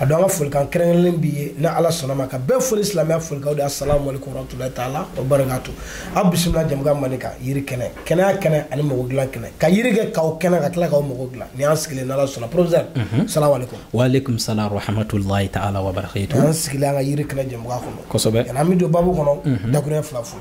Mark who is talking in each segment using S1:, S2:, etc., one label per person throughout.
S1: a don an ka folikan kɛrɛnkɛrɛnlen b'i ye ni ala sɔnna ma ka bɛɛ foli silamɛya folikaw de assalamu alaikum warahmatullahi taala wa barakatu aw bisimila jamukan mali kan yiri kɛnɛ kɛnɛya kɛnɛ ani mɔgɔ dilan kɛnɛ ka yiri kɛ k'aw kɛnɛ ka tila k'aw mɔgɔ dilan ni y'an sigilen n'ala sɔnna professeur mhm. salamu alaikum wa alaikum
S2: salam warahmatullahi taala wa barakatu an sigilen an ka yiri kɛnɛ
S1: jamukan kɔnɔ kosɛbɛ yan'an bɛ
S2: don babu kɔnɔ
S1: mhm. dakurun fila fo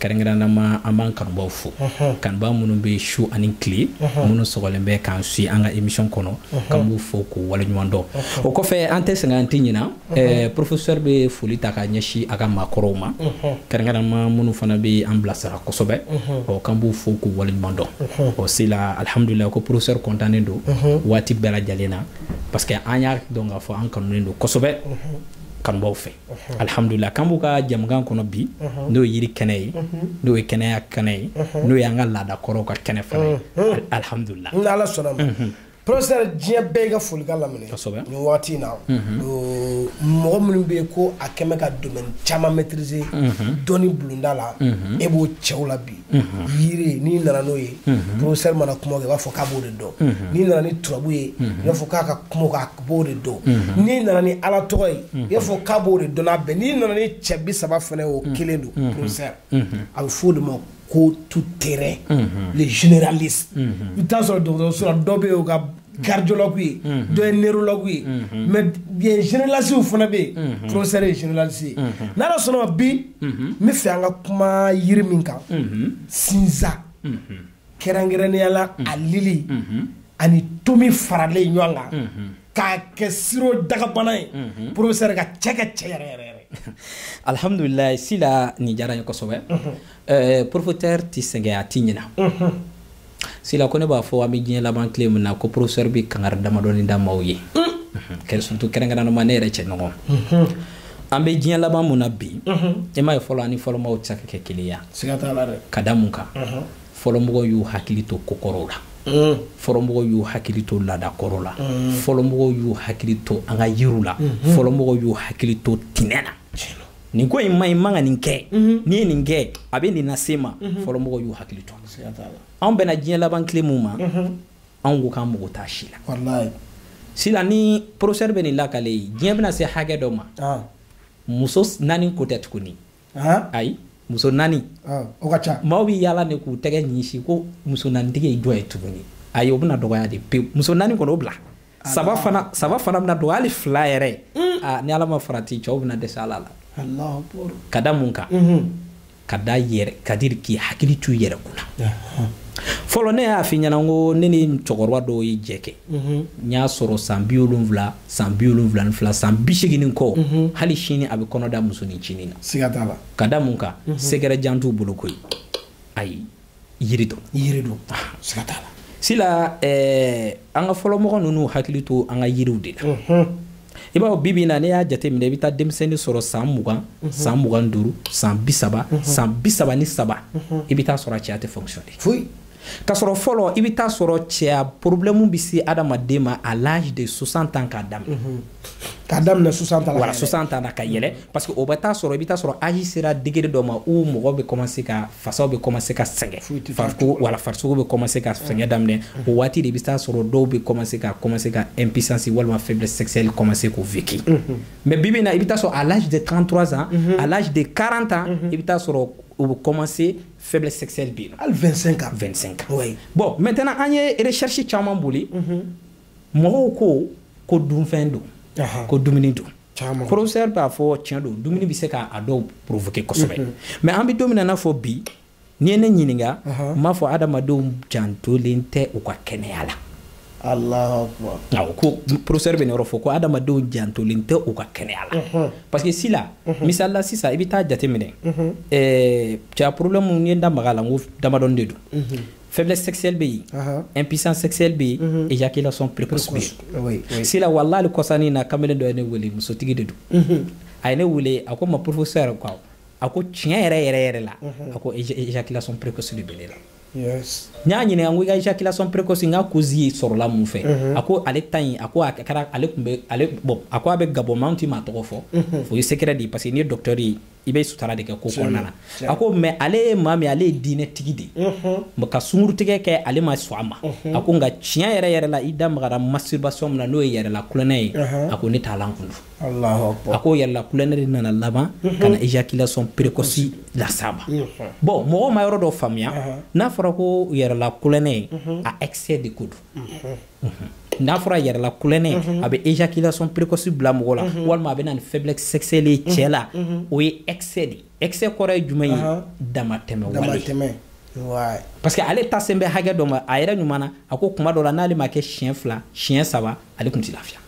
S2: kɛrɛnkɛrɛnnama an b'an kanubaw fo kanuba minnu bɛ su ani tile minnu sɔgɔlen bɛ k'an si an ka émission kɔnɔ k'an b'u fo k'u waleɲuman dɔn o kɔfɛ an tɛ sɛgɛn an tɛ ɲina eh, professeur bɛ foli ta k'a ɲɛsin a ka maakɔrɔw ma kɛrɛnkɛrɛnnama minnu fana bɛ an bilasira kosɛbɛ ɔ k'an b'u fo k'u waleɲuman dɔn ɔ sila alihamudulila ko professeur kɔntannen don waati bɛɛ lajɛlen na parce que an y'a dɔn k'a fɔ an kanunen don kosɛbɛ kanubaw fɛ alhamdulila k'an b'u ka jamukan kɔnɔ bi n'o ye yiri kɛnɛ ye n'o ye kɛnɛya kɛnɛ ye n'o y'an ka laada kɔrɔw ka kɛnɛ fana ye alhamdulila ni ala sɔnna ma
S1: professeur diɲɛ bɛ i ka folikan lamɛn nin waati in na mɔgɔ minnu bɛ yen ko a kɛmɛ ka domaine caman maîtriser dɔnni bulonda la e b'o cɛw la bi yiri n'i nana n'o ye professeur mana kuma i b'a fɔ k'a b'o de dɔn n'i nana ni turabu ye i b'a fɔ k'a ka kuma k'a b'o de dɔn n'i nana ni ala tɔgɔ ye i b'a fɔ k'a b'o de dɔn a bɛn n'i nana ni cɛ bi saba fana o kelen don professeur a bɛ f'o de ma ko tout terrain les généralistes i t'a sɔrɔ dɔgɔtɔrɔso dɔ bɛ ka cardiologue ye mhm. dɔ ye neurologue ye mhm. mais bien généraliste fana bɛ yen mhm. professeur ye généraliste ye n'ala sɔnna bi n bɛ fɛ an ka kuma yiri min kan sinza kɛrɛnkɛrɛnnenya la a lili ani tomi faralen ɲɔgɔn kan k'a kɛ siro dagabana ye professeur ka cɛ ka cɛ yɛrɛ yɛrɛ yɛrɛ
S2: alhamdulilayi sila nin diyara n ye kosɛbɛ Eh, professeur tɛ sɛgɛn a tɛ ɲina mhm. sila ko ne b'a fɔ an bɛ diɲɛ laban tile min na ko professeur bɛ kangari damadɔni da maaw ye mm. mhm. kɛrɛ surtout kɛrɛnkɛrɛnnama ne yɛrɛ cɛɲɔgɔn mhm. an bɛ diɲɛ laban min na bi e m'a ye fɔlɔ ani fɔlɔ maaw tɛ se ka kɛ kelen ye
S1: ka da mun
S2: kan fɔlɔ mɔgɔw y'u hakili to ko kɔrɔw la mm. fɔlɔ mɔgɔw y'u hakili to laada kɔrɔ la mm. fɔlɔ mɔgɔw y'u hakili to an ka yiriw la fɔlɔ mɔgɔw y'u hakili to tɛnɛ na nin ko in man ɲi i man ka nin kɛ mhm. n'i ye nin kɛ a bɛ nin lase i ma mhm. fɔlɔ mɔgɔw y'u hakili to anw bɛna diɲɛ laban tile min ma mhm. anw ko k'an mago t'a si la
S1: sila ni
S2: professeur bɛ nin lakali i ye diɲɛ bɛna se hakɛ dɔ ma ah. muso naani ko tɛ tuguni ah. ayi muso naani ah, o ka ca
S1: maaw bɛ yaala de k'u
S2: tɛgɛ ɲɛsin ko muso naanitigi ye dɔ ye tuguni ayi o bɛna dɔgɔya de pewu muso naani kɔni o bila saba fana saba fana bɛna don hali fila yɛrɛ mm. ah, ni ala ma farati cɛw bɛna dɛsɛ ala
S1: la ka da mun kan mm-hmm.
S2: ka da yɛrɛ kadiri k'i hakili to i yɛrɛ kun na fɔlɔ ne y'a f'i ɲɛna ko ne ni cɛkɔrɔba dɔw ye jɛ kɛ mm-hmm. n y'a sɔrɔ san bi wolonwula san bi wolonwula ni fila san bi seegin kɔ mm-hmm. hali sini a bɛ kɔnɔ da musonin cinin na ka da
S1: mun kan
S2: secret jan t'u bolo koyi ayi yiri dɔn yiri dɔn ah, siga t'a la sila eh, an ka fɔlɔ mɔgɔ ninnu hakili to an ka yiriw de la i b'a fɔ bi bi na ne y'a jate minɛ i bɛ taa denmisɛnnin sɔrɔ san mugan mhm. san mugan duuru san bi saba mhm. san bi saba ni saba mhm. i bɛ taa sɔrɔ a cɛya tɛ fonctionner foyi
S1: k'a sɔrɔ fɔlɔ
S2: i bɛ taa sɔrɔ cɛya problème bɛ se adamaden ma à l'âge de 60 ans k'a daminɛ
S1: ka daminɛ 60 ans la voilà 60 ans na
S2: ka yɛlɛ mm. parce que o bɛ taa sɔrɔ i bɛ taa sɔrɔ âge sera degré dɔ ma où mɔgɔ bɛ commencer ka fasaw bɛ commencer ka sɛgɛn farikolo wala farisogo bɛ commencer ka sɛgɛn mm. daminɛ mm. o waati de i bɛ taa sɔrɔ dɔw bɛ commencer ka commencer ka impuissance walima faiblesse sexuelle commencer k'o vécu mm-hmm. mais bi bi in na i bɛ taa sɔrɔ à l'âge de 33 ans mm-hmm. à l'âge de 40 ans mm-hmm. i bɛ taa sɔrɔ o bɛ commencer faiblesse sexuelle bɛ yen nɔ hali 25 ans 25 ans
S1: oui bon
S2: maintenant an ye recherche caman boli mɔgɔw ko ko dunfɛn don ko dumuni don professeur b'a fɔ tiɲɛ don dumuni bɛ se k'a dɔw provoquer kosɛbɛ mhm. mais an bɛ don min na n'a fɔ bi n'i ye ne ɲininka n b'a fɔ adamadenw jantolen tɛ u ka kɛnɛya la
S1: awɔ ko professeur bɛ
S2: nin yɔrɔ fɔ ko adamadenw jantolen tɛ u ka kɛnɛya la mhm. parce que si la mhm. misali la sisan i bɛ taa jateminɛ cɛya problème n ye n da maga a la n ko damadɔni de don faiblesse sexuelle bɛ yen impuissance sexuelle bɛ yen éjaculation précoce bɛ yen sila wallahi kɔsa nin na kamalen dɔ ye ne wele musotigi de don a ye ne wele a ko ma professeur yɛrɛ quoi a ko tiɲɛ yɛrɛ yɛrɛ yɛrɛ la a ko éjaculation précoce de bɛ ne la n
S1: y'a ɲininka n ko i
S2: ka éjaculation précoce in ka cause ye sɔrɔla mun fɛ a ko ale ta in a ko a kɛra ale tun bɛ ale bon a ko a bɛ gabon mais n tɛ maa tɔgɔ fɔ o ye secret de ye parce que n'i ye docteur ye i bɛ sutara de kɛ ko kɔnɔna na a ko mais ale ye maa min ale ye diinɛ tigi de ye mhm. ka sungurutigɛ kɛ ale ma sɔn a ma mhm. a ko nka tiɲɛ yɛrɛ yɛrɛ la i da magara masturbation min na n'o ye yɛrɛla tulonkɛ ye mhm. a ko ne t'a lankundu a
S1: ko yɛrɛla tulonkɛ
S2: de nana laban ka na éjaculation précoce las'a ma bon mɔgɔw ma yɔrɔ dɔ faamuya n'a fɔra ko yɛrɛla tulonkɛ ye a excès de ko don n'a fɔra yɛrɛla tulonkɛ a bɛ éjaculation précoce bila mɔgɔ la walima a bɛ na ni faiblesse sexuelle ye cɛ la o ye excès de excès kɔrɔ ye jumɛn ye damatɛmɛ wale parce que ale ta sen bɛ hakɛ dɔ ma a yɛrɛ ɲuman na a ko kuma dɔ la n'ale m'a kɛ siɲɛ fila siɲɛ saba ale tun tɛ lafiya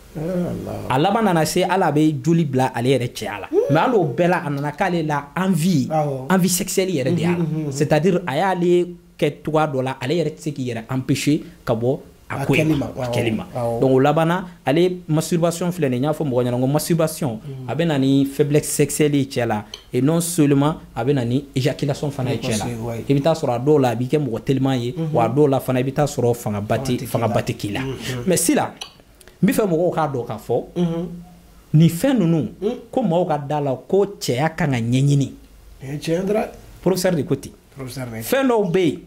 S2: a laban nana se ale bɛ joli bila ale yɛrɛ cɛya la mais hali o bɛɛ la a nana k'ale la envie envie sexuelle yɛrɛ de y'a la c'est à dire a y'ale kɛ cogoya dɔ la ale yɛrɛ tɛ se k'i yɛrɛ empêcher ka bɔ a ko in ma a kɛli ma donc o labanna ale masturbation filɛ nin n y'a fɔ mɔgɔ ɲɛna ko masturbation a bɛ na ni faiblesse sexuelle ye cɛ la et non seulement a bɛ na ni éjaculation fana ye cɛ la i bɛ taa sɔrɔ a dɔw la a b'i kɛ mɔgɔ teliman ye wa a dɔw la fana i bɛ taa sɔrɔ fangaba tɛ fangaba tɛ k'i la mais sila n bɛ fɛ mɔgɔw k'a dɔn k'a fɔ nin fɛn ninnu ko maaw ka da la ko cɛya kan ka ɲɛɲini professeur de ko ten fɛn dɔw bɛ yen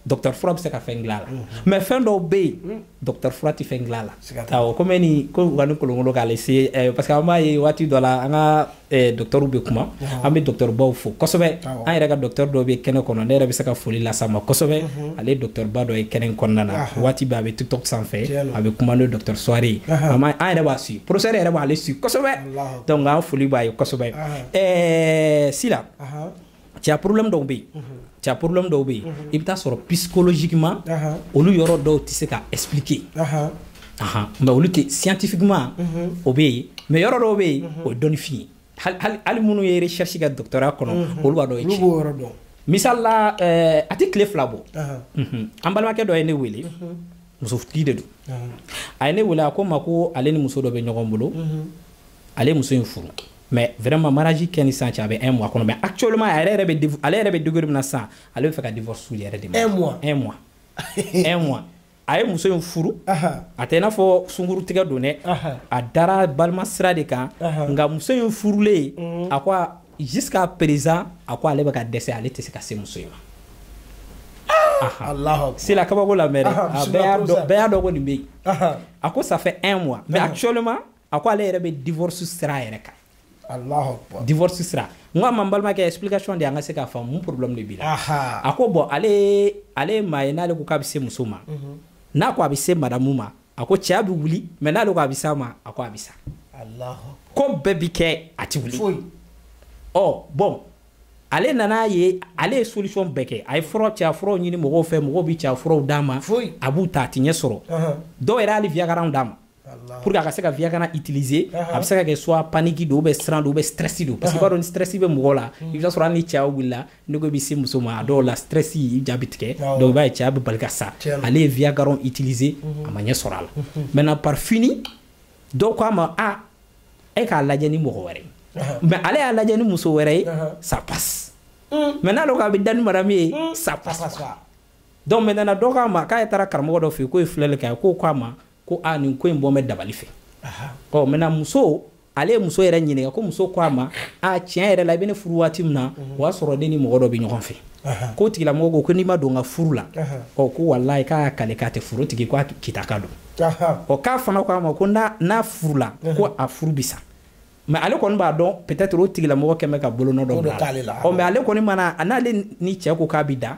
S2: docteur fura bɛ se ka fɛn dilan a la mais fɛn dɔw bɛ yen docteur fura tɛ fɛn dilan a la awɔ komi ni ko u ka ni kolonkolon k'ale se eh, parce que an b'a ye waati dɔ la an ka eh, docteurw bɛ kuma an bɛ docteurbaw fo kosɛbɛ an yɛrɛ ka docteur dɔ bɛ kɛnɛ kɔnɔ ne yɛrɛ bɛ se ka foli lase a ma kosɛbɛ ale ye docteurba dɔ ye kɛnɛ in kɔnɔna na waati bɛɛ a bɛ tiktok sanfɛ a bɛ kuma n'o docteur suware ye an yɛrɛ b'a suit professeur yɛrɛ b'ale suit kosɛbɛ donc an foli b'a ye kosɛbɛ eh, sila cɛya problème dɔw bɛ yen cɛya problème dɔw bɛ yen i bɛ taa sɔrɔ psychologiquement olu yɔrɔ dɔw tɛ se ka expliquer mais olu tɛ scientifiquement o bɛ yen mais yɔrɔ dɔw bɛ yen o ye dɔnnifin ye hali minnu ye recherche kɛ doctorat kɔnɔ olu b'a dɔn o ye tiɲɛ misali la a tɛ tile fila bɔ an balimakɛ dɔ ye ne wele musotigi de don a ye ne wele a ko n ma ko ale ni muso dɔ bɛ ɲɔgɔn bolo ale ye muso in furu mais vraiment mariage kɛ ni sisan cɛ a bɛ un mois kɔnɔ mais actuellement a yɛrɛ yɛrɛ bɛ ale yɛrɛ bɛ degré min na sisan ale bɛ fɛ ka divorce yɛrɛ de ma un mois un mois un mois a ye muso in furu a tɛ i n'a fɔ sungurun tigɛ don dɛ a dara balima sira de kan nka muso in furulen mm. a ko jusqu'à présent a ko ale bɛ ka dɛsɛ ale tɛ se ka se muso in ma sila kabako lamɛn dɛ bɛɛ y'a dɔn ko nin bɛ yen a ko ça fait un mois mais actuellement a ko ale yɛrɛ bɛ divorce sira yɛrɛ kan divorce sira n ko a ma n balimakɛ explication di an ka se k'a faamu mun problème de b'i la a ko bon ale ale ye maa ye n'ale ko k'a bɛ se muso ma mhm. n'a ko a bɛ se madamu ma a ko cɛya bɛ wuli mais n'ale ko a bɛ s'a ma a ko a bɛ sa ko bɛɛ bi kɛ a ti wuli ɔ bon ale nana ye ale ye solution bɛɛ kɛ a ye fura cɛya furaw ɲini mɔgɔw fɛ mɔgɔw bɛ cɛya furaw d'a ma a b'u ta a ti ɲɛ sɔrɔ dɔw yɛrɛ hali viagraw d'a ma pour que a ka se ka viagra utiliser a bɛ se ka kɛ soit panique don ou bien siran don ou bien stress don parce que i b'a dɔn ni stress bɛ mɔgɔ la mm. i bɛ taa sɔrɔ hali ni cɛya wulila n'e ko i bɛ se muso ma a dɔw la stress i ja bɛ tigɛ donc i b'a ye cɛya bɛ bali ka sa ale ye viagra utiliser mm-hmm. a ma ɲɛ sɔrɔ a la mm-hmm. maintenant par fini dɔw ko a ma a e k'a lajɛ ni mɔgɔ wɛrɛ ye mais ale y'a lajɛ ni muso wɛrɛ ye ça passe mm. mais n'ale ko a bɛ da ni madame ye mm. ça passe donc maintenant dɔ k'a ma k'ale taara karamɔgɔ dɔ fɛ yen k'o ye filɛli kɛ a ye k'o k'a ma ko a nin ko in bɔ bɛ dabali fɛ ɔ maintenant muso ale ye muso yɛrɛ ɲininka ko muso ko a ma a tiɲɛ yɛrɛ la i bɛ ne furu waati min na o y'a sɔrɔ ne ni mɔgɔ dɔ bɛ ɲɔgɔn fɛ k'o tigilamɔgɔ ko ko n'i ma don n ka furu la ɔ ko walayi k'a y'a kale k'a tɛ furu tigi ko a kita ka don ɔ k'a fana ko a ma ko n'a furu la ko a furu bɛ sa mais ale kɔni b'a dɔn peut-être o tigilamɔgɔ kɛlen bɛ ka bolonɔ dɔ bila a la mais ale kɔni mana a n'ale ni cɛ ko k'a bɛ da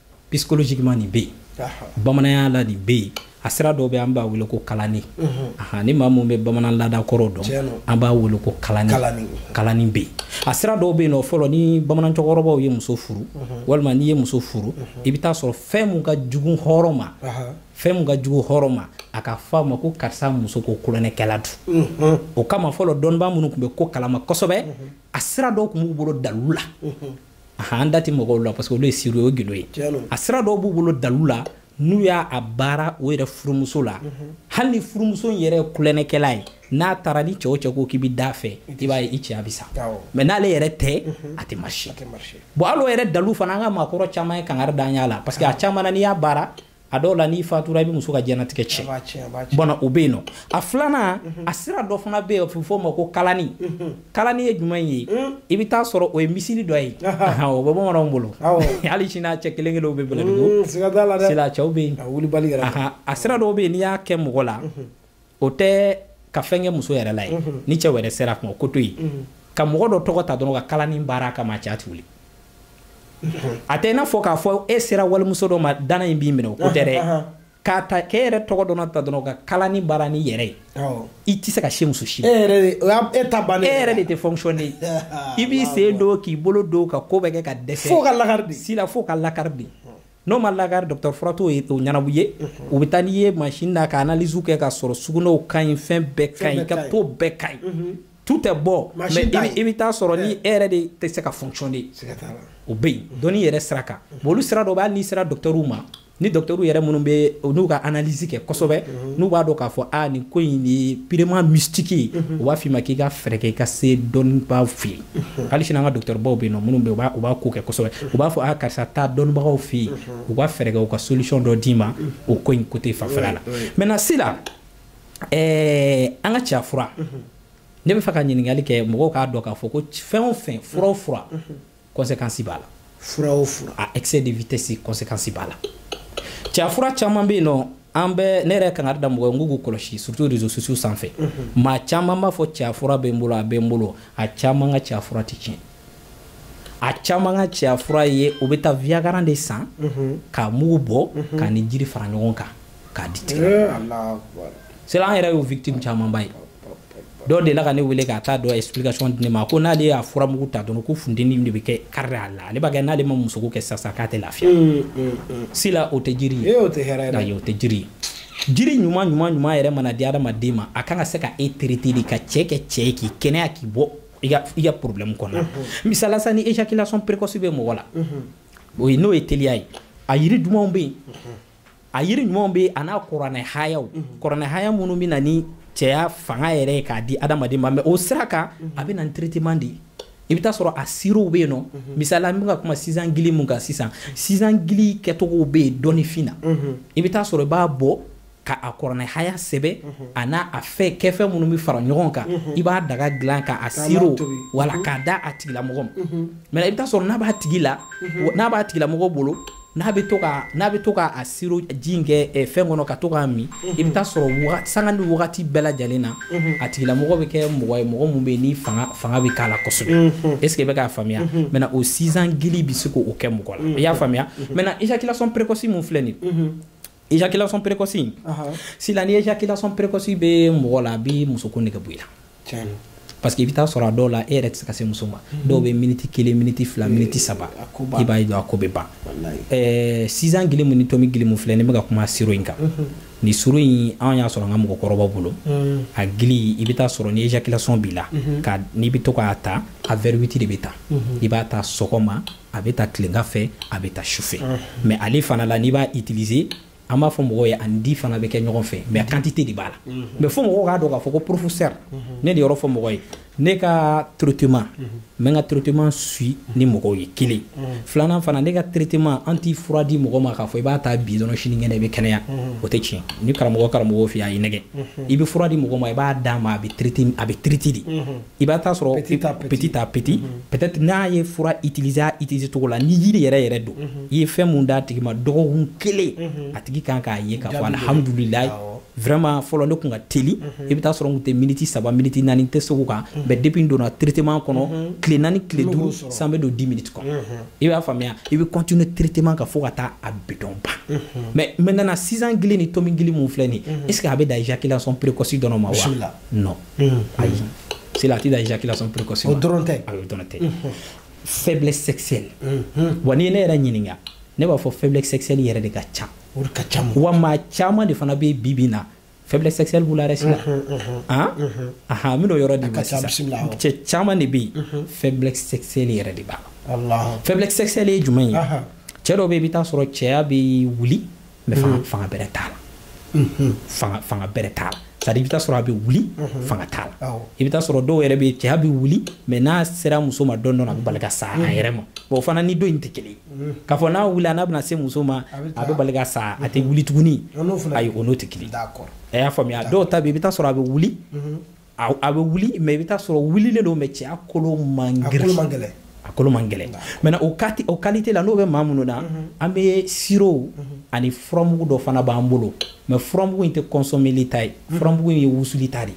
S2: psychologiquement nin bɛ yen bamananya la nin bɛ yen a sira dɔw bɛ an b'a wele ko kalani ahan ni maa mun bɛ bamanan laada kɔrɔw dɔn an b'a wele ko kalani kalani bɛ a sira dɔw bɛ yen nɔ fɔlɔ ni bamanan cɛkɔrɔbaw ye muso furu walima n'i ye muso furu i bɛ taa sɔrɔ fɛn mun ka jugu hɔrɔn ma fɛn mun ka jugu hɔrɔn ma a ka fɔ a ma ko karisa muso ko kolonɛkɛla don o kama fɔlɔ dɔnnibaa minnu tun bɛ ko kalama kosɛbɛ a sira dɔw tun b'u bolo dalu la an da tɛ mɔgɔw la parce que olu ye siri o gindo ye a sira dɔw b'u bolo dalu la n'u y'a baara o yɛrɛ furumuso la mhm. hali ni furumuso in yɛrɛ ye kulɛnɛkɛla ye n'a taara ni cɛ o cɛ ko k'i bɛ d'a fɛ i b'a ye i cɛya bɛ sa mais n'ale yɛrɛ tɛ mhm. a tɛ marcher bon hali o yɛrɛ dalu fana an ka maakɔrɔ caman ye kangari d'an y'a la parce que a caman na n'i y'a baara a dɔw la n'i fatura i bɛ muso ka diɲɛlatigɛ tiɲɛ bon o bɛ yen nɔ a filanan mhm. a sira dɔ fana bɛ yen o bɛ fɔ o ma ko kalani mhm. kalani ye jumɛn ye mhm. i bɛ taa sɔrɔ o ye miseli dɔ ye o bɛ bamananw bolo hali sini a cɛ kelen kelen bɛ bɛlɛdugu mm, sila cɛw bɛ yen a sira dɔw bɛ yen n'i y'a kɛ mɔgɔ la o tɛ ka fɛn kɛ muso yɛrɛ la ye ni cɛ wɛrɛ sera kuma ko to yen ka mɔgɔ dɔ tɔgɔ ta dɔrɔn ka kalanni baara kama cɛ ti wuli a tɛ i n'a fɔ k'a fɔ e sera walimuso dɔ ma dana in b'i minɛ o ko tɛ dɛ k'a ta k'e yɛrɛ tɔgɔ dɔn ta dɔrɔn ka kalanni baara n'e yɛrɛ ye i tɛ se ka se muso si e e ta ban e yɛrɛ de tɛ fonctionner i b'i sen don k'i bolo don ka ko bɛɛ kɛ ka dɛsɛ fo k'a lakari sila
S1: fo k'a lakari de
S2: n'o ma lakari docteur fura t'o ye o ɲɛnabɔ ye mhm. u bɛ taa n'i ye mansin na ka analyse kɛ k'a sɔrɔ sugunɛw ka ɲi fɛn bɛɛ ka ɲi k'a tɔ bɛɛ ka ɲi mhm. tout est bon mais i bɛ taa sɔrɔ ni e yɛrɛ de tɛ se ka fonctionner o bɛ yen dɔnni yɛrɛ sira kan bon olu sira dɔ bɛ hali n'i sera docteurw ma ni docteurw yɛrɛ minnu bɛ n'u ka analyse kɛ kosɛbɛ mhm. n'u b'a dɔn k'a fɔ a nin ko in ye purement mystique ye u b'a f'i ma k'i ka fɛɛrɛ kɛ i ka se dɔnnibaaw fɛ yen hali sini an ka docteurbaw bɛ yen nɔ minnu bɛ yen u b'a ko kɛ kosɛbɛ u b'a fɔ a karisa taa dɔnnibagaw fɛ yen u ka fɛɛrɛ kɛ u ka solution dɔ d'i ma o ko in côté fanfɛla la maintenant sila ɛɛ an ka cɛya fura ne bɛ fɛ ka ɲininkali kɛ mɔgɔw k'a dɔn k'a fɔ ko fɛn o fɛn fura o fura conséquence b'a la fura o fura
S1: a excès de
S2: vitesse conséquence b'a la cɛya fura caman bɛ yen nɔ an bɛ ne yɛrɛ kangari da mɔgɔ ye n k'u k'u kɔlɔsi surtout réseaux sociaux sanfɛ mhm. maa caman b'a fɔ cɛya fura bɛ n bolo a bɛ n bolo a caman ka cɛya fura tɛ tiɲɛ a caman ka cɛya fura ye u bɛ taa viagra de san mhm. k'a mugu bɔ mhm. k'a ni jiri fara ɲɔgɔn kan k'a di tigɛ eh, sila an yɛrɛ y'o victime camanba ye dɔ delila ka ne wele k'a taa dɔ explication di ne ma ko n'ale y'a furamugu ta dɔrɔn ko funteni de bɛ kɛ kari a la ale b'a kɛ n'ale ma musoko kɛ sisan k'a tɛ lafiya mm, mm, mm. sila o tɛ jiri ye o tɛ hɛrɛ ye ayi o tɛ jiri ye jiri ɲuman ɲuman ɲuman yɛrɛ mana di adamaden ma a kan ka se ka e traiter de ka cɛ kɛ cɛ ye k'i kɛnɛya k'i bɔ i ka i ka problème kɔnɔ mm-hmm. misala sa ni éjaculation précoce bɛ mɔgɔ la mm-hmm. o ye n'o ye teliya ye a yiri dumanw bɛ yen mm-hmm. a yiri ɲumanw bɛ a n'a kuranɛ hayaw mhm. kuranɛ haya minnu bɛ na ni cɛya fanga yɛrɛ ye k'a di adamaden ma mais o sira kan mhm. a bɛ na ni traitement de ye i bɛ taa sɔrɔ a sirow bɛ yen nɔ mhm. misali an bɛ ka kuma sinjan gili mun kan sisan sinjan gili kɛcogow bɛ yen dɔnnifin na i bɛ taa sɔrɔ i b'a bɔ ka a kuranɛ haya sɛbɛ a n'a a fɛn kɛfɛn minnu bɛ fara ɲɔgɔn kan i b'a daga dilan ka a siro wala k'a da a tigilamɔgɔ ma mais i bɛ taa sɔrɔ n'a b'a tigi la n'a b'a tigilamɔgɔ bolo n'a bɛ to ka n'a bɛ to ka a siro ji in kɛ eh, fɛn kɔnɔ ka to k'a min i bɛ taa sɔrɔ sanga ni wagati bɛɛ lajɛlen na a tigilamɔgɔ bɛ kɛ mɔgɔ ye mɔgɔ min bɛ yen ni fanga fanga bɛ k'a la kosɛbɛ est ce que i bɛ k'a faamuya maintenant o sinjan gili bɛ se k'o kɛ mɔgɔ la i y'a faamuya maintenant éjaculation précoce min filɛ nin ye éjaculation précoce in sila ni éjaculation précoce bɛ mɔgɔ la a bɛ musoko nege bɔ i la parce que i bɛ taa sɔrɔ a dɔw la e yɛrɛ tɛ se ka se muso ma dɔw bɛ miniti kelen miniti fila miniti saba i b'a ye dɔrɔn a ko bɛ ban sinjan gili mun ni tomi gili mun filɛ ne bɛ ka kuma siro in kan nin siro in an y'a sɔrɔ an ka mɔgɔkɔrɔbaw bolo a gili i bɛ taa sɔrɔ ni éjaculation b'i la n'i bɛ to k'a ta a verre huit de bɛ ta i b'a ta sɔgɔma a bɛ ta tilegan fɛ a bɛ ta sufɛ mais ale fana la n'i b'a utiliser an b'a fɔ mɔgɔw ye ani di fana bɛ kɛ ɲɔgɔn fɛ mais quantité de b'a la mais fo mɔgɔw k'a dɔn k'a fɔ ko professeur ne de yɔrɔ fɔ mɔgɔ ye ne ka traitement n bɛ ka traitement suivre ni mɔgɔw ye kelen filanan fana ne ka traitement an tɛ fura di mɔgɔ ma k'a fɔ i b'a ta bi dɔrɔn sini kɛnɛ i bɛ kɛnɛya o tɛ tiɲɛ ni karamɔgɔ karamɔgɔ fɛ a y'i nɛgɛn i bɛ fura di mɔgɔ ma i b'a d'a ma a bɛ a bɛ traiter de i bɛ taa sɔrɔ petit à petit mhm. peut-être n'a ye fura utiliser a utiliser cogo la ni yiri yɛrɛ yɛrɛ don mhm. i ye fɛn mun d'a tigi ma dɔgɔkun kelen mhm. a tigi kan k'a ye k'a fɔ alihamudulilayi vraiment fɔlɔ ne kun ka teli i bɛ taa sɔrɔ n kun tɛ miniti saba miniti naani tɛ segu kan mais depuis n donna traitement kɔnɔ tile naani tile duuru sa n bɛ don dix minutes kɔnɔ i b'a faamuya i bɛ continuer traitement kan fo ka taa a bidɔn ban mais maintenant sinjan gili ni tomi gili mun filɛ nin est ce que a bɛ dan éjaculation précoce dɔrɔn ma wa non mm-hmm. ayi c'est la tida éjaculation précoce o dɔrɔn tɛ ayi o dɔrɔn
S1: tɛ
S2: faiblesse sexuelle wa n'i ye ne yɛrɛ ɲininka ne b'a fɔ faiblesse sexuelle yɛrɛ de ka ca o de ka ca wa maa caman de fana bɛ bi bi in na faiblesse sexuelle b'u la dɛ sisan ahan n bɛn'o yɔrɔ d'i ma sisan cɛ caman de bɛ yen faiblesse sexuelle yɛrɛ de b'a la faiblesse sexuelle ye jumɛn ye cɛ dɔw bɛ yen i bɛ taa sɔrɔ cɛya bɛ wuli mais fanga bɛrɛ t'a la fanga bɛrɛ t'a la c'est à dire i bɛ taa sɔrɔ a bɛ wuli fanga t'a la i bɛ taa sɔrɔ dɔw yɛrɛ bɛ cɛya bɛ wuli mais n'a sera muso ma dɔrɔn a bɛ bali ka sa a yɛrɛ ma bon o fana ni dɔ in tɛ kelen ye k'a fɔ n'a wulila n'a bɛna se muso ma a bɛ bali ka sa a tɛ wuli tuguni ayi o n'o tɛ kelen a y'a faamuya dɔw ta bɛ i bɛ taa sɔrɔ a bɛ wuli a bɛ wuli mais i bɛ taa sɔrɔ wulilen don mais cɛya kolo man a kolo man gɛlɛn maintenant o qualité la n'o bɛ maa minnu na mhm. an bɛ sirop mhm. ani furamugu dɔ fana b'an bolo mais furamugu in tɛ consommerli ta ye mhm. furamugu in ye wusuli ta de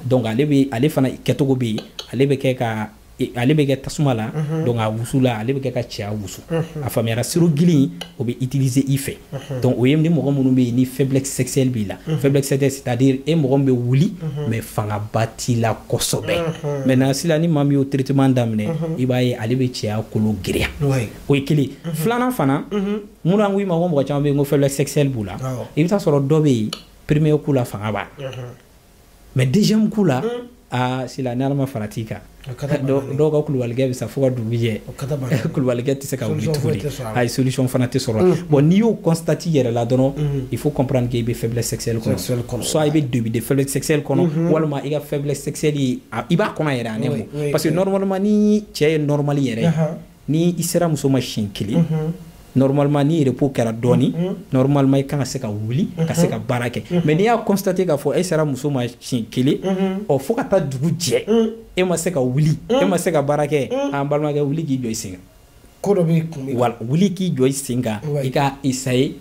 S2: donc ale ale fana kɛcogo bɛ yen ale bɛ kɛ ka ale bɛ kɛ tasuma la donc a wusu la ale bɛ kɛ ka cɛya wusu a faamuyara sirop gili o bɛ utiliser i fɛ donc o ye ni mɔgɔ minnu bɛ yen ni faiblesse sexuelle b'i la faiblesse sexuelle c'est à dire e mɔgɔ bɛ wuli mais fangaba t'i la kɔsɔbɛ maintenant sila ni maa min y'o traitement daminɛ i b'a ye ale bɛ cɛya kolo girinya o ye kelen filanan fana min n ko i ma ko mɔgɔ caman bɛ yen ko faiblesse sexuelle b'u la i bɛ taa sɔrɔ dɔ bɛ yen premier coup la fanga b'a mais deuxième coup la hmm. aa sila ni ala ma far'a tigi kan dɔw ka kulubalikɛ bɛ sa fo ka dugu jɛ kulubalikɛ tɛ se ka wuli tuguni a ye solution fana tɛ sɔrɔ hmm. bon n'i y'o constater i yɛrɛ la dɔrɔn hmm. il faut comprendre que i bɛ faiblesse sexuelle kɔnɔ soit i bɛ début de faiblesse sexuelle kɔnɔ walima i ka faiblesse sexuelle i b'a kɔnɔ yɛrɛ a nɛ parce que normalement ni cɛ ye normal yɛrɛ ni i sera muso ma siɲɛ kelen normalement ni repos kɛra dɔɔni normalement i kan ka se ka wuli ka se ka baara kɛ mais n'i y'a constater k'a fɔ e sera muso ma siɲɛ kelen ɔ fo ka taa dugu jɛ e ma se ka wuli e ma se ka baara kɛ an balimakɛ wuli k'i jɔ i sen kan ko dɔ b'i kun
S1: wuli k'i jɔ i
S2: sen kan i ka essayer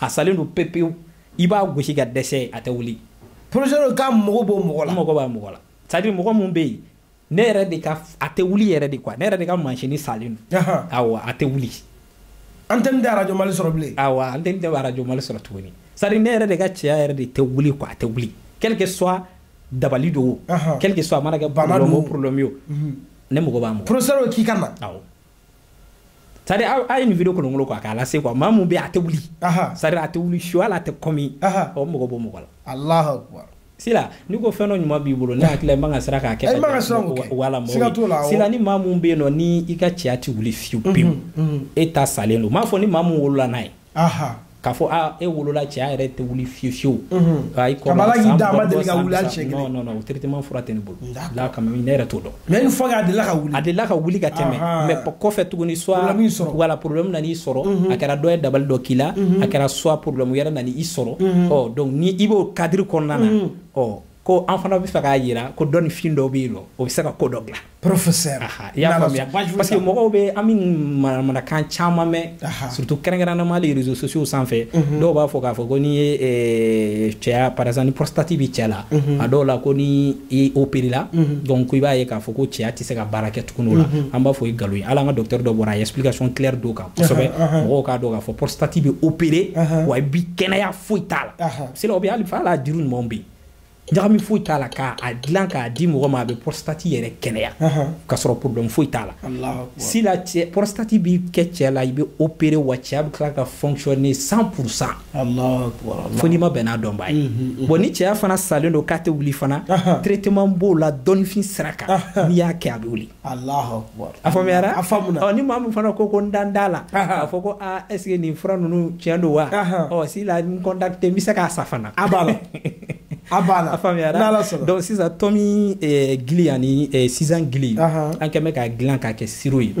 S2: a salen don pepewu i b'a gosi ka dɛsɛ a tɛ wuli professeur
S1: k'a mago b'o mɔgɔ la n mago b'a mɔgɔ la
S2: c'est à dire mɔgɔ mun bɛ yen ne yɛrɛ de ka a tɛ wuli yɛrɛ de quoi ne yɛrɛ de ka machine salen don awɔ a tɛ wuli antenne
S1: tɛ arajo mali sɔrɔ bilen awɔ antenne tɛ
S2: arajo mali sɔrɔ tuguni c'est à dire ne yɛrɛ de ka cɛya yɛrɛ de tɛ wuli quoi a tɛ wuli quel que soit dabali don o quel que soit a mana kɛ problème o problème ye o ne mago b'a mɔgɔ professeur k'i ka na awɔ c'est à dire a ye nin video kolonkolon quoi k'a lase quoi maa mun bɛ a tɛ wuli c'est à dire a tɛ wuli su hali a tɛ kɔmi o mago b'o mɔgɔ la alahu akubar
S1: sila n'i ko
S2: fɛn dɔ ɲuman b'i bolo ne hakili la i man ka siran k'a kɛ wala mɔgɔ sila ni maa mun bɛ yen nɔ ni i ka cɛya tɛ wuli fiyewu pewu e ta salen don n m'a fɔ ni maa mun wolola n'a ye k'a fɔ aa e wolola cɛya yɛrɛ tɛ wuli fiye fiyewu
S1: i kɔrɔ traitement fura tɛ
S2: ne bolo la quand même ne yɛrɛ t'o dɔn mais une fois a delila ka
S1: wuli a delila ka wuli ka tɛmɛ mais
S2: kɔfɛ tuguni soit wala problème nana i sɔrɔ a kɛra dɔ ye dabali dɔ k'i la a kɛra soit problème wɛrɛ nana i sɔrɔ ɔ donc ni i b'o cadre kɔnɔna na ɔ ko an fana bɛ fɛ k'a jira ko dɔnnifin dɔ bɛ yen nɔ o bɛ se ka ko dɔ dilan professeur i
S1: y'a
S2: faamuya parce que mɔgɔw bɛ an bɛ manamanakan caman mɛn surtout kɛrɛnkɛrɛnnama les réseaux sociaux sanfɛ mhm. dɔw b'a fɔ k'a fɔ ko n'i ye eh, cɛya par exemple ni prostate bɛ cɛ la mhm. a dɔw la ko ni i opéré la mhm. donc i b'a ye k'a fɔ ko cɛya tɛ se ka baara kɛ tuguni o la an b'a fɔ o ye nkalon ye hali an ka docteur dɔ bɔra a ye explication claire d'o kan kosɛbɛ mɔgɔw k'a dɔn k'a fɔ prostate bɛ opéré wa i bi kɛnɛya foyi t'a la si la ou bien hali fa la jiri ɲumanw bɛ yen ɲagami foyi t'a la k'a dilan k'a di mɔgɔ ma a bɛ prostate yɛrɛ kɛnɛya k'a sɔrɔ problème foyi t'a la si la prostate bi kɛ cɛ la i bɛ opéré wa cɛya bɛ tila ka fonctionner cent pour cent fo n'i ma bɛn n'a dɔnba ye bon ni cɛya fana salen don k'a tɛ wuli fana traitement b'o la dɔnnifin sira kan n'i y'a kɛ a bɛ wuli a faamuyara a fa ni maa min fana ko ko n dan t'a la a fɔ ko aa est-ce que nin fura ninnu tiɲɛ don wa ɔ si la n contacter n bɛ se k'a sa fana a b'a la
S1: a b'a la a faamuyara
S2: n'ala sɔnna donc sisan tomi eh, gili ani eh, sisan gili an kɛn bɛ k'a dilan k'a kɛ sirop ye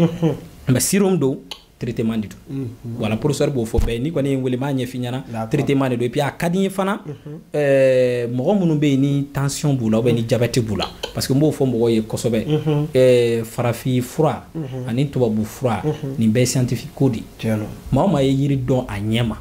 S2: mais sirop min don traitement de don voilà professeur b'o fɔ bɛɛ n'i kɔni ye n wele n b'a ɲɛf'i ɲɛna traitement de don et puis a ka di n ye fana ɛɛ mɔgɔ minnu bɛ yen ni tension b'u la ou bien ni diabète b'u la parce que n b'o fɔ mɔgɔw ye kosɛbɛ ɛɛ farafin fura ani tubabu fura nin bɛɛ ye scientifique ko de ye maa o maa ye yiri dɔn a ɲɛ ma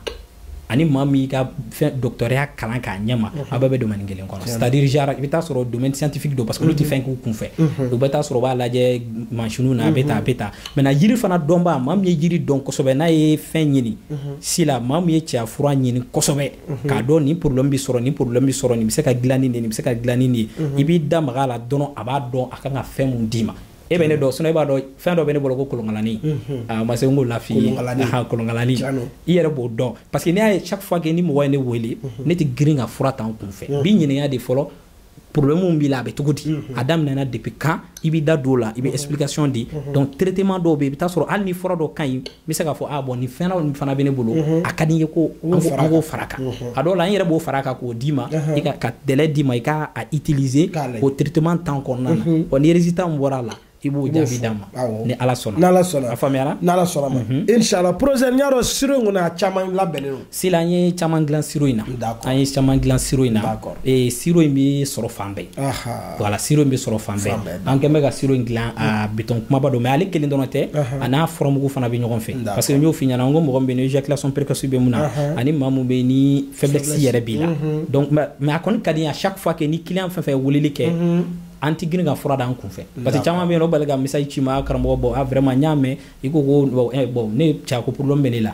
S2: ani maa min y'i ka dɔgɔtɔrɔya kalan k'a ɲɛma a bɛɛ bɛ domaine kelen kɔnɔ c'est à dire genre i bɛ taa sɔrɔ domaine scientifique don parce que olu tɛ fɛn k'u kunfɛ u bɛ taa sɔrɔ u b'a lajɛ mansinw na a bɛ tan a bɛ tan maintenant yiri fana dɔnbaa maa min ye yiri dɔn kosɛbɛ n'a ye fɛn ɲini si la maa min ye cɛya fura ɲini kosɛbɛ k'a dɔn nin problème bɛ sɔrɔ nin problème bɛ sɔrɔ nin bɛ se ka dilan ni nin ye nin bɛ se ka dilan ni nin ye i b'i da maga a la dɔrɔn a b'a dɔn a kan ka fɛn min d'i ma e bɛ ne dɔn sinon e b'a dɔn fɛn dɔ bɛ ne bolo ko kolonkalani a ma se n k'o lafi ye kolonkalani i yɛrɛ b'o dɔn parce que n'i y'a ye chaque fois que ni mɔgɔ ye ne wele ne tɛ girin ka fura ta n kunfɛ n b'i ɲininka de fɔlɔ problème b'i la a bɛ cogo di a daminɛna depuis quand i b'i da don o la i bɛ explication di donc traitement dɔw bɛ yen i bɛ taa sɔrɔ hali ni fura dɔ ka ɲi bɛ se k'a fɔ ah, bon nin fɛn nin fana bɛ ne bolo mhm. a ka di n ye ko an k'o fara kan mhm. a dɔw la an yɛrɛ b'o fara kan k'o d'i ma i ka ka délai d'i ma i k'a a utiliser k'o traitement temps kɔnɔna na mhm. ɔ ni résultat min bɔra a la i b'o jaabi d'an ma ni ala sɔnna n'ala sɔnna a faamuyara n'ala sɔnna ma
S1: inshallah professeur n y'a dɔn sirop in kɔni a caman labɛnnen don Sila an ye caman
S2: dilan siro in na an ye caman dilan siro in na siro in bɛ sɔrɔ fan bɛɛ voilà siro in bɛ sɔrɔ fan bɛɛ an kɛlen bɛ ka siro in dilan a bidon kumaba don mais ale kelen dɔrɔn tɛ a n'a furamugu fana bɛ ɲɔgɔn fɛ parce que n y'o f'i ɲɛna n ko mɔgɔ min bɛ yen ni éjaculation précoce bɛ min na ani maa min bɛ yen ni faiblesse yɛrɛ b'i la mais a kɔni ka di à chaque fois que ni client fɛn fɛn ye weleli kɛ an tɛ girin ka fura d'an kunfɛ parce que caman bɛ yen o bali ka message ci ma karamɔgɔ bon vraiment n y'a mɛn i ko ko ne cɛkopdɔn bɛ ne la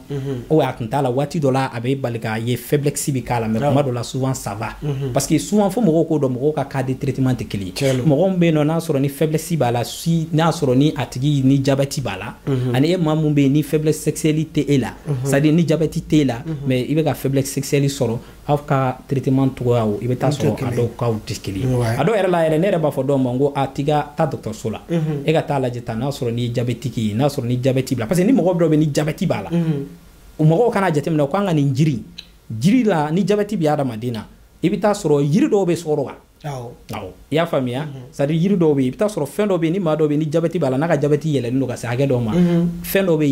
S2: Mhm. o a tun t'a la waati dɔ la a bɛ bali k'a ye faiblesse bɛ k'a la mais kuma dɔ la souvent ça va mhm. parce que souvent fo mɔgɔw k'o dɔn mɔgɔw ka cas de traitement tɛ kelen ye mɔgɔ min bɛ yen nɔ n'a sɔrɔ ni faiblesse b'a la si n'a sɔrɔ ni a tigi ni jabɛti b'a la mhm. ani e maa min bɛ yen ni faiblesse sexuelle tɛ e la c'est à dire ni jabɛti tɛ e la mais i bɛ ka faiblesse sexuelle sɔrɔ aw ka traitement cogoyaw i bɛ taa sɔrɔ a dɔw kaw tɛ kelen ye a dɔw yɛrɛ la yɛrɛ ne yɛrɛ b'a fɔ dɔw ma n ko a tigi ka taa dɔgɔtɔrɔso la mhm. e ka taa lajɛ tan n'a sɔrɔ ni diabétique ye n'a sɔrɔ ni jabɛti b'a la parce que ni mɔgɔ dɔ bɛ ni jabɛti b'a la mhm. o mɔgɔw kana jateminɛ ko an ka nin jiri jiri la ni jabɛti bɛ adamaden na i bɛ taa sɔrɔ yiri dɔw bɛ sɔrɔ wa i y'a faamuya mhm. c'est à dire yiri dɔw bɛ yen i bɛ taa sɔrɔ fɛn dɔ bɛ yen ni maa dɔ bɛ ni jabɛti b'a la n'a ka jabɛti yɛlɛlen don ka se hakɛ dɔw ma mhm. fɛn dɔ bɛ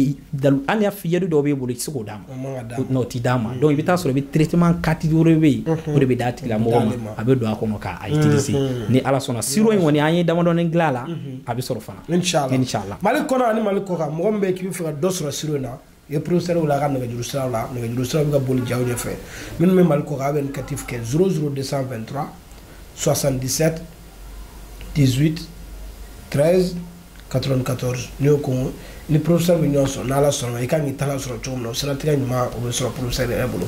S2: yen hali yiri dɔw bɛ bolo i tɛ se k'o d'a ma n'o t'i d'a ma donc i bɛ taa sɔrɔ i bɛ traitement catégorie wɛrɛ bɛ yen mhm. o de bɛ d'a tigilamɔgɔ ma a bɛ don a kɔnɔ k'a utiliser ni ala sɔnna siro in kɔni an ye damadɔni dilan a la a bɛ sɔrɔ fana inshallah mali
S1: kɔnɔ ani mali kɔkan mɔgɔ min bɛ yen k'i bɛ fɛ ka dɔ sɔrɔ siro in na i ye professeur wele a ka nɛgɛjuru siraw la nɛgɛjuru siraw bɛ ka boli jaw ɲɛfɛ minnu bɛ mali kɔkan a bɛ indicatif kɛ 00223 77 18 13 94 n'i y'o composer i ni professeur bɛ ɲɔgɔn sɔrɔ n'ala sɔnna i ka kan k'i tala sɔrɔ cogo min na o siratigɛ ɲuman o bɛ sɔrɔ professeur yɛrɛ bolo